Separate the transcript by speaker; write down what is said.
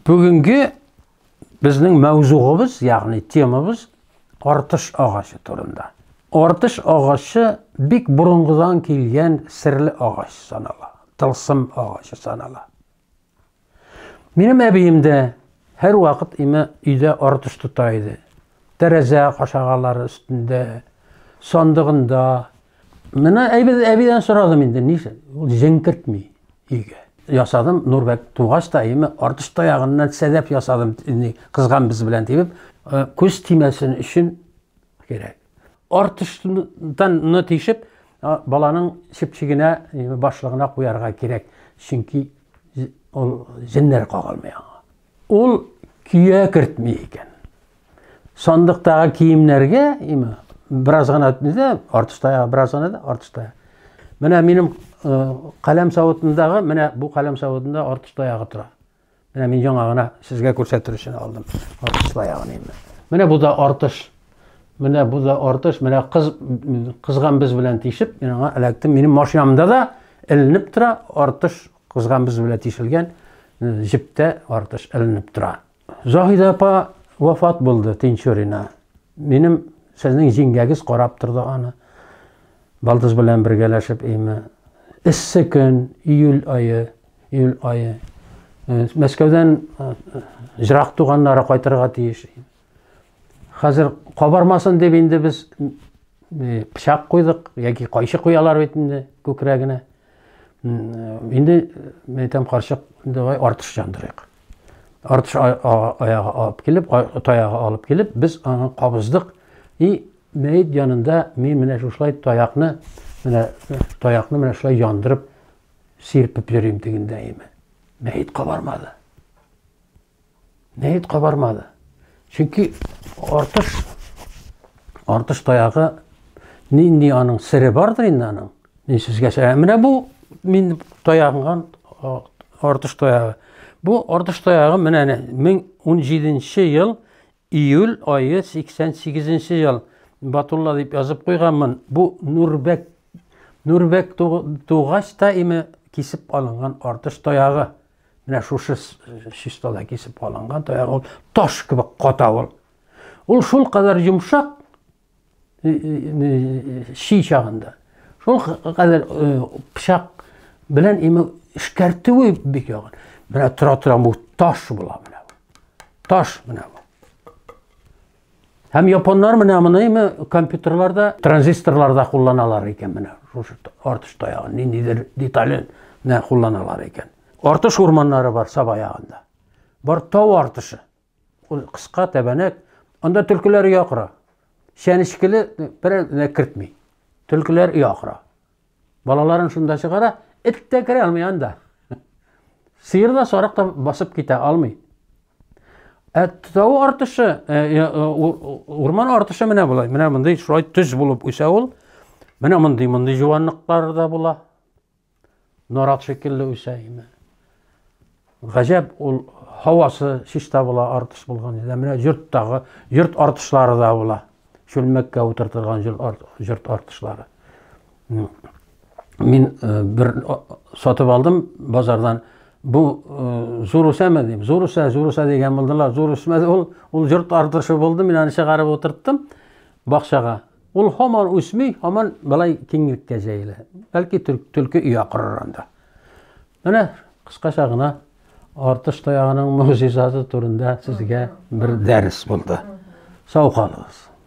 Speaker 1: Бүгенге безнең мәүзугыбыз, ягъни темабыз артыш агачы турында. Артыш агачы бик борынгыдан килгән серле агач санала, тылсым агачы санала. Минем әбием дә һәр вакыт име өйдә артыш тота иде. Тәрәзә кашагалары өстендә, сандыгында, Менә әйбез әбидән сорадым инде, нишләп? Ул җенкертми өйгә. Ясадым, Нурбәк тугач та, әйеме, артыш таягыннан сәдәп ясадым, инде кызган без белән дибеп, э, күз тимәсен өчен кирәк. Артыштан тишеп, баланың чепчигенә, башлыгына куярга кирәк, чөнки ул җеннәр кагылмый аңа. Ул көя кертми икән. Сандыктагы киемнәргә, имә, бераз гына дә, артыш таяк, бераз гына да, артыш таяк. Менә минем каләм савытындагы, менә бу каләм савытында артыш таягы тора. Менә мин яңа гына сезгә күрсәтер өчен алдым. Артыш таягын инде. Менә бу да артыш. Менә бу да артыш. Менә кыз кызган без белән тишеп, мин аңа эләктем. Минем машинамда да эленеп тора артыш Кызган без белән тишелгән җептә артыш эленеп тора. Заһидә апа вафат булды Тинчурина. Минем сезнең җиңгәгез карап торды аны. Балдыз белән бергәләшеп име. Эссе көн, июль айы, июль айы. Э, Мәскәүдән э, җырак туганнары кайтырга тиеш. Хәзер кабармасын дип инде без пычак куйдык яки кайчы куялар бит инде күкрәгенә. Инде мен әйтәм карчык давай артыш җандырыйк. Артыш аягы алып килеп, таягы алып килеп, без аны кабыздык. И мәйт янында мин менә шушылай таякны, менә таякны менә шулай яндырып сирпеп йөрим дигәндә име. Мәйт кабармады. Нәет кабармады. Чөнки артыш артыш таягы нинди аның сире бардыр инде аның. Мин сезгә ә менә бу мин таягынган артыш таягы. Бу артыш таягы менә 1017 ел Июль ае 88 нче ел. Батулла дип язып куйганмын. Бу Нурбәк Нурбәк тугач та име кисеп алынган артыш таягы. Менә шушы чистада кисеп алынган таягы ул таш кебек ката ул. Ул шул кадәр йомшак, чи чагында шул хәзер пычак белән имә эшкәртүе бик ягын менә тора тора бу таш була менә таш менә һәм японнар менә моны имә компьютерларда транзисторларда кулланалар икән менә шушы артыш таягын ниндидер детален менә кулланалар икән артыш урманнары бар саба ягында бар тау артышы Ул кыска тәбәнәк, анда төлкеләр ия кора. Чәнечкеле берәренә кертми. Төлкеләр ия кора. Балаларын шунда чыгара, эт тә керә алмый анда. Сыер да, сарык та басып китә алмый. Ә тау артышы, э, э, э, урман артышы менә болай, менә мондый шулай төз булып үсә ул. Менә мондый, мондый җуанлыклар да була. Нарат шикелле үсә име. Гаҗәп ул һавасы чиста була артыш булган иде. Менә йорттагы йорт артышлары да була. Чүлмәккә утыртылган йорт артышлары. Мин э, бер сатып алдым базардан. Бу э, зур үсәме дип, зур үсә, зур үсә дигән булдылар. Зур үсмәде ул, ул йорт артышы булды. Мин аны чыгарып утырттым бакчага. Ул һаман үсми, һаман былай киңлеккә җәелә. Бәлки төлке өя корыр анда. Менә кыскача гына артыш таягының могҗизасы турында сезгә бер дәрес булды. Сау калыгыз.